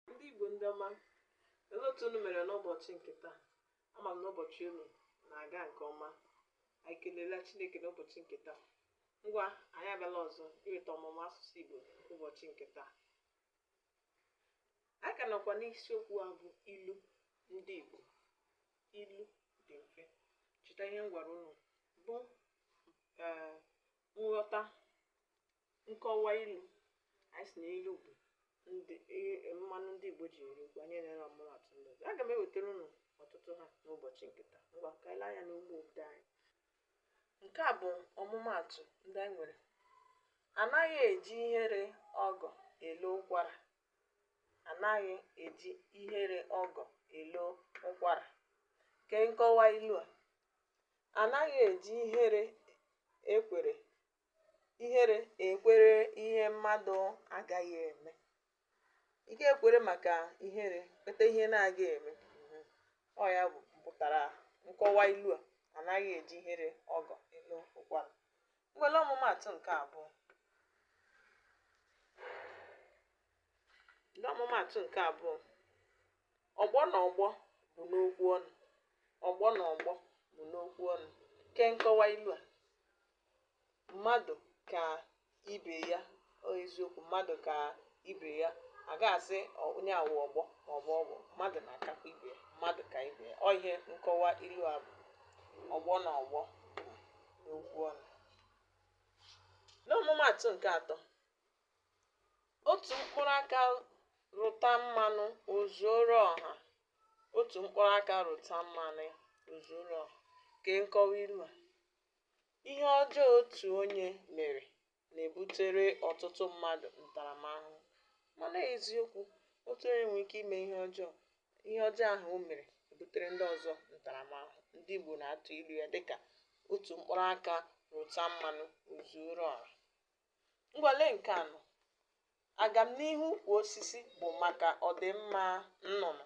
Ndị Igbo ndị ọma, olee otu unu mere n'ụbọchị nke taa? Ama m na ụbọchị unu na-aga nke ọma. Anyị ekelela Chineke n'ụbọchị nke taa. Ngwa, anyị abịala ọzọ iweta ọmụmụ asụsụ Igbo ụbọchị nke taa. Anyị ka nọkwa n'isiokwu a bụ ilu ndị Igbo. Ilu dị mfe. Cheta ihe m gwara unu bụ ee nghọta nkọwa ilu anyị sị na ilu bụ ndị i- mmanụ ndị igbo ji eri okwu anyị nyere ọmụmaatụ ndị ọzọ aga m ewetara unu ọtụtụ ha n'ụbọchị nke taa ngwa ka anyị lee anya n'ugbo odee anyị nke a bụ ọmụmaatụ ndị anyị nwere anaghị eji ihere ọgọ elo ụkwara anaghị eji ihere ọgọ elo ụkwara kee nkọwa ilu a anaghị eji ihere ekwere ihere ekwere ihe mmadụ agaghị eme ị ga-ekwere maka ihere kweta ihe na-agaghị eme mhm. ọ ya bụ mpụtara nkọwa ilu a anaghị eji ihere ọgọ elo ụkwara ngwa lee ọmụmaatụ nke abụọ ọmụmaatụ nke abụọ ọgbọ na ọgbọ bụ n'okwu ọnụ ọgbọ na ọgbọ bụ n'okwu ọnụ kee nkọwa ilu a mmadụ ka ibe ya ọ eziokwu mmadụ ka ibe ya a ga-asị ọ- onye a wụ ọgbọ ma ọ bụ ọgbọ mmadụ na-akakwa ibe ya mmadụ ka ibe ya ọ ihe nkọwa ilu a bụ ọgbọ na ọgbọ n'okwu ọnụ n'ọmụmaatụ nke atọ otu mkpụrụ aka rụta mmanụ o zuoro ọha otu mkpụrụ aka rụta mmanụ o zuoro ọha kee nkọwa ilu a Ihe ọjọọ otu onye mere na-ebutere ọtụtụ mmadụ ntaramahụhụ. Mana eziokwu, otu onye nwere ike ime ihe ọjọọ, ihe ọjọọ ahụ o mere ebutere ndị ọzọ ntaramahụhụ. Ndị Igbo na-atụ ilu ya dịka otu mkpụrụ aka rụta mmanụ o zuoro ọra. Ngwa lee nke anọ. Agamnihu ukwu osisi bụ maka ọdịmma nnụnụ.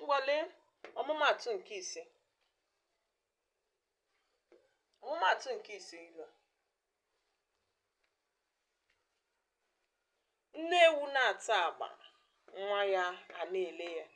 ngwa lee ọmụmaatụ nke ise ọmụmaatụ nke ise ilu a nne ewu na-ata agba nwa ya ana-ele ya